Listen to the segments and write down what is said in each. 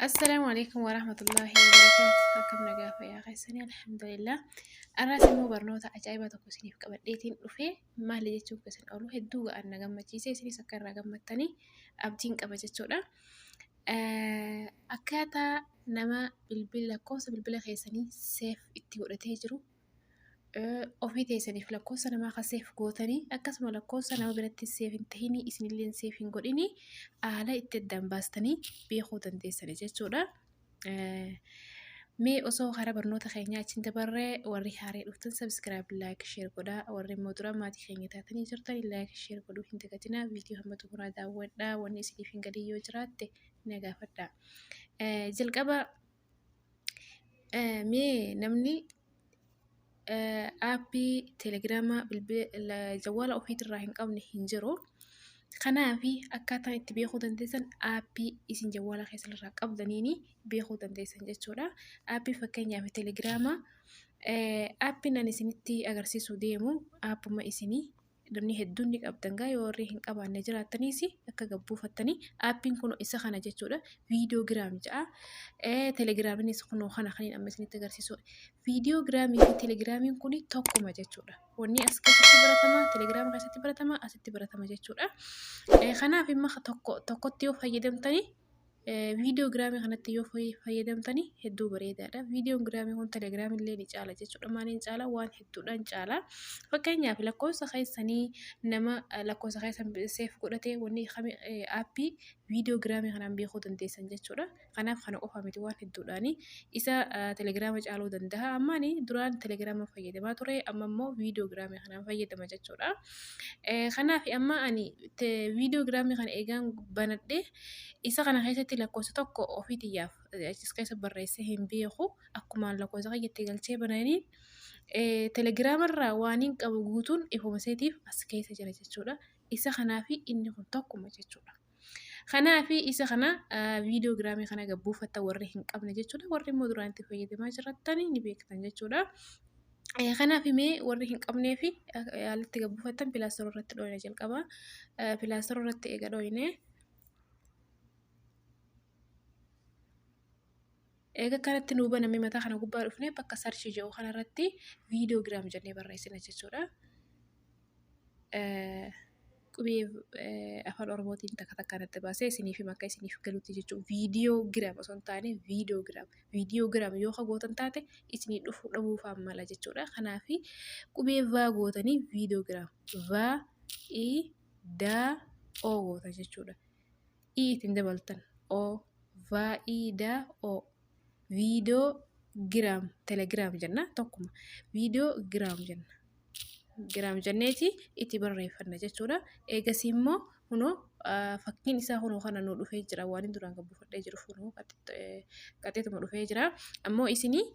Assalaamu alaikum warahmatullaahi wabarakaatu. Akkam nagaa fayyaa keessanii alhamdulillah. Arraas immoo barnoota ajaa'ibaa tokko isiniif qabadheetiin dhufe maali jechuun keessan oolu hedduu ga'an na gammachiise isinis akka irraa gammattanii abdiin qaba jechuudha. Akkaataa nama bilbila lakkoofsa bilbila keessanii seef itti godhatee jiru ofii teessaniif lakkoofsa namaa kan seef gootanii akkasuma lakkoofsa nama biratti seef hin tahinii isinillee seef hin godhinii haala itti addaan baastanii beekuu dandeessanii jechuudha. Mee osoo hara barnoota keenyaa achiin dabarree warri haaree dhuftan sabiskiraayib laayik sheer godhaa warri immoo dura maatii keenya taatanii jirtan laayik sheer godhuu hin dagatinaa viidiyoo hamma xumuraa daawwadhaa wanni isiniif hin galii yoo jiraatte na gaafadhaa. Jalqaba Mee namni aappii telegiraamaa bilbila ofiirraa hin qabne hin jiru. Kanaaf akkaataa itti beekuu dandeessan aappii isin bilbila keessanirraa qabdaniin beekuu dandeessan jechuudha. Aappii fakkeenyaaf telegiraama aappiin ani isinitti agarsiisuuf deemu aappuma isin... namni hedduun ni qabdan gaa yoo warri hin qabaanne jiraattaniis akka gad buufattanii aappiin kun isa kana jechuudha viidiyoo giraam ja'a telegiraaminis kunoo kana kan amma isinitti agarsiisu viidiyoo giraamii fi telegiraamiin kun tokkuma jechuudha wanni as keessatti baratama telegiraama keessatti baratama asitti baratama jechuudha kanaaf imma tokko tokkotti yoo fayyadamtanii viidiyoo giraamii kanatti yoo fayyadamtani hedduu bareedaadha. Viidiyoon giraamii kun telegiraamii illee ni caala jechuudha. Maaliin caala waan hedduudhaan caala. Fakkeenyaaf lakkoofsa keessanii nama lakkoofsa keessan seef godhatee wanni aappii viidiyoo giraamii kanaan beekuu dandeessan jechuudha. Kanaaf kana qofa miti waan hedduudhaani. Isa telegiraama caaluu danda'a. Ammaani duraan telegiraama fayyadamaa ture amma immoo viidiyoo giraamii kanaan fayyadama jechuudha. Eh, kanaaf amma ani te viidiyoo giraamii kana eegaan banadhe isa kana keessatti lakkoofsa tokko ofii tiyyaaf eh, achis keessa barreessee hin beeku akkumaan lakkoofsa kiyyattee galchee bananiin eh, telegiraamarraa waan hin qabu guutuun ifuma seetiif as keessa jira jechuudha. Isa kanaafi inni kun tokkuma jechuudha. Kanaafi isa kana viidiyoo giraamii kana egaa buufatta warri hin qabne jechuudha. Warri immoo duraan itti fayyadamaa jiratan ni beektan jechuudha. Kanaaf mee warri hin qabnee fi haalatti egaa buufattan pilaastora irratti dhooyina jalqaba. Pilaastora irratti egaa dhooyinee. Eega akkanatti nuu baname mataa kana gubbaa dhufnee bakka search jedhu kanarratti videogram jennee barreessina jechuudha. Qubee afaan Oromootiin takka takka natti baasee isiniif hima akka isiniif galutti jechuudha. Videogram osoo hin taane videogram. Videogram yoo ka gootan taate isinii dhufuu dhabuu fa'aa mala jechuudha. Kanaaf qubee vaa gootanii videogram. Vaa i daa oo goota jechuudha. i ittiin dabaltan o vaayidaa o viidoo giraam telegiraam jenna tokkuma viidoo giraam jenna giraam jenneeti itti barreeffanna jechuudha eegasii immoo kunoo fakkiin isaa kunoo kana nu dhufee jira waan inni duraan gabbifadhee jiru kunoo qaxxeetuma dhufee jira ammoo isinii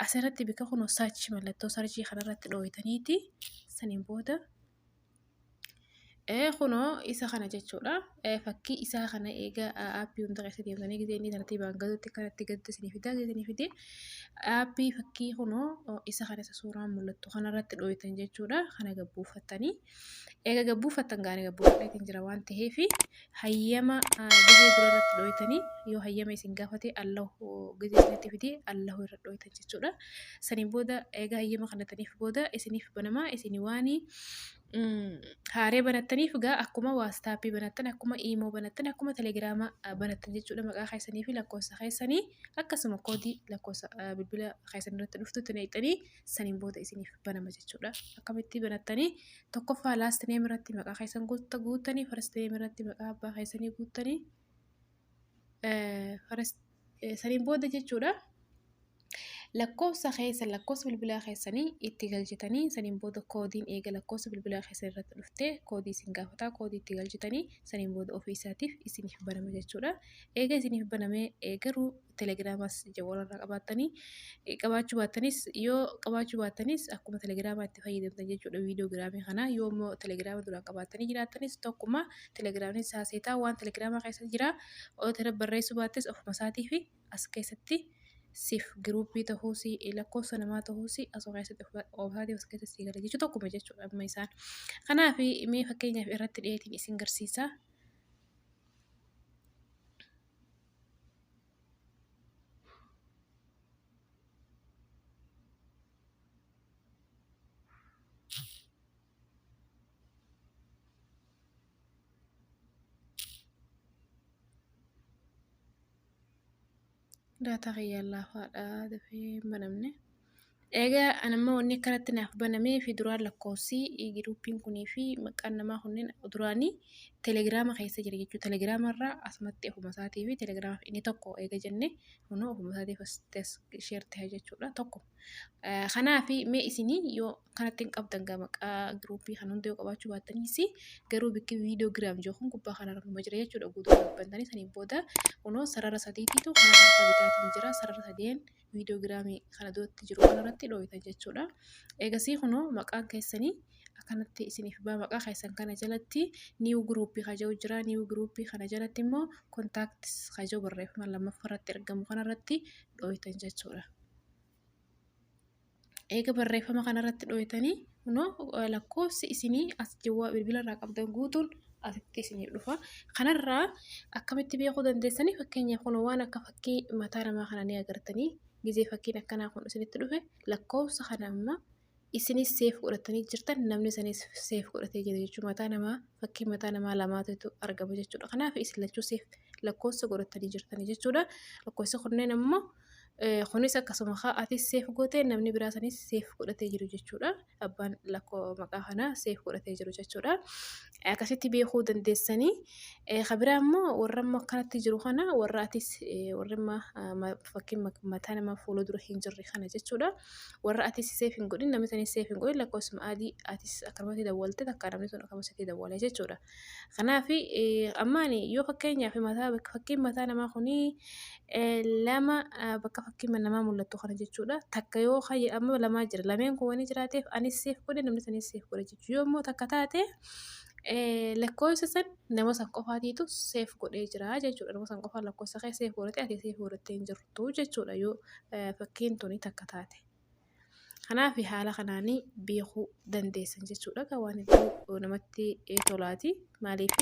asirratti bika kunoo sarchi mallattoo sarchii kanarratti dhooytaniiti saniin booda Kunoo isa kana jechuudha. Fakkii isaa kana eegaa aappii hunda keessa deemtanii gisee inni tartiibaan galuutti kanatti galtu isinii fidaa gisee isinii fidee aappii fakkii kunoo isa kana isa suuraan mul'attu kanarratti dhooytan jechuudha. Kana gabbuufattanii eega gabbuufattan gaana gabbuufattan jira waan ta'eef hayyama gizee dura irratti dhooytanii yoo hayyama isin gaafate allahu gizee isinitti fidee allahu irra dhooytan jechuudha. Saniin booda egaa hayyama kanataniif booda isiniif banama isin waan haaree banattaniif gaa akkuma waastaappii banattan akkuma iimoo banattan akkuma telegiraama banattan jechuudha maqaa keessanii fi lakkoofsa keessanii akkasuma koodii lakkoofsa bilbila keessan irratti dhuftutti naqxanii saniin booda isiniif banama jechuudha. Akkamitti banattanii tokkoffaa last name irratti maqaa keessan guuttanii first name irratti maqaa abbaa keessanii guuttanii saniin booda jechuudha. Lakkoofsa keessan lakkoofsa bilbilaa keessanii itti galchitanii saniin booda koodiin eega lakkoofsa bilbilaa keessan irratti dhuftee koodii isin gaafataa koodii itti galchitanii saniin booda ofii isaatiif isiniif banama jechuudha. Eega isiniif banamee garuu telegiraamas warra qabaattanii qabaachuu baattanis yoo qabaachuu baattanis akkuma telegiraamaa itti fayyadamtan jechuudha viidiyoo giraamii kana yoo immoo telegiraama duraan qabaattanii jiraattanis tokkuma telegiraamni isaa seetaa waan telegiraamaa keessa jira otoo barreessuu baattes ofuma isaatii fi as keessatti siif giruuppii ta'uus lakkoofsa namaa ta'uus asoo keessatti ofisaatii as keessatti sii gala jechuu tokkuma jechuudha amma isaan kanaaf mee fakkeenyaaf irratti dhiyeetiin isin garsiisaa. Daataa kiyyaa laafaa dha dafee hin banamne. Eegaa an amma wanni akkanatti naaf banamee fi duraan lakkoofsi giruupiin kunii fi maqaan namaa kunneen duraanii telegiraama keessa jira jechuudha. Telegiraama irraa asumatti ofuma isaatii fi telegiraama inni tokko eega jennee kunoo ofuma isaatii as sheer ta'e jechuudha tokko. Kanaaf mee isinii yoo kanatti hin qabdan gaa maqaa giruupii kan hunda yoo qabaachuu baattaniis garuu bikki viidiyoo giraam jiru kun gubbaa kanarra numa jira jechuudha guutuu qabbantanii saniin booda kunoo sarara sadiitiitu karaa harka bitaatiin jira sarara sadeen. viidiyoogiraamii kana duratti jiru kanarratti dhooytan jechuudha. Eegasii kunoo maqaan keessanii akkanatti isiniif baa maqaa keessan kana jalatti niiw giruuppii kaja'u jira. Niiw giruuppii kana jalatti immoo kontaaktis kaja'u barreeffama lammaffaa irratti argamu kanarratti dhooytan jechuudha. eega barreeffama kana irratti dhooytanii kunoo lakkoofsi isinii as jawwaa bilbila irraa qabdan guutuun asitti isiniif dhufa. Kanarraa akkamitti beekuu dandeessanii fakkeenyaaf kun waan akka fakkii mataa namaa kana ni agartanii gizee fakkiin akkanaa kun isinitti dhufe lakkoofsa kana amma isinis seef godhatanii jirtan namni isanis seef godhatee jira jechuudha mataa namaa fakkii mataa namaa lamaatu argama jechuudha kanaaf isin lachuu seef lakkoofsa godhatanii jirtanii jechuudha lakkoofsa kunneen ammoo Eh, Kunis akkasuma kaa atis seef gootee namni biraa sanis seef godhatee jiru jechuudha. Abbaan lakkoo maqaa kanaa seef godhatee jiru jechuudha. Eh, Akkasitti beekuu dandeessanii. Eh, Ka biraa immoo warra immoo akkanatti jiru kana warra atis eh, warra immoo ah, ma- fakkiin ma- mataa nama fuula dura hin jirre kana jechuudha. Warra atis seef hin godhin namni sanis seef hin godhin lakkoofsuma adii atis akkanumatti dawwalte takka namni sun akkanumatti dawwala jechuudha. Kanaaf amma ani yoo fakkeenyaaf mataa bakka fakkiin mataa namaa kun lama bakka fakkiin namaa mul'attu kana jechuudha. Takka yoo kayya amma lamaa jira lameen kun waan jiraateef anis seef godhe namni sanis seef godhe jechuudha. Yoo immoo takka taate lakkoofsa san nama san qofaatiitu seef godhee jira jechuudha. Nama san qofaa lakkoofsa kee seef godhatee ati seef godhattee hin jirtu jechuudha yoo fakkiin tuni takka taate. Kanaaf haala kanaan beekuu dandeessan jechuudha. Egaa waan hedduu namatti tolaati. Maaliif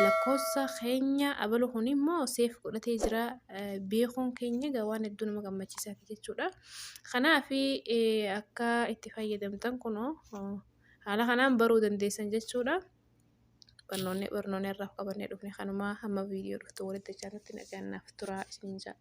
lakkoofsa keenya abalu kun immoo seef godhatee jira beekuun keenya egaa waan hedduu nama gammachiisaati jechuudha. Kanaaf akka itti fayyadamtan kunoo haala kanaan baruu dandeessan jechuudha. Barnoonni barnoonni irraa qabannee dhufne kanumaa hamma viidiyoo dhuftu walitti jechaatti nagaan naaf turaa isiniin jedha.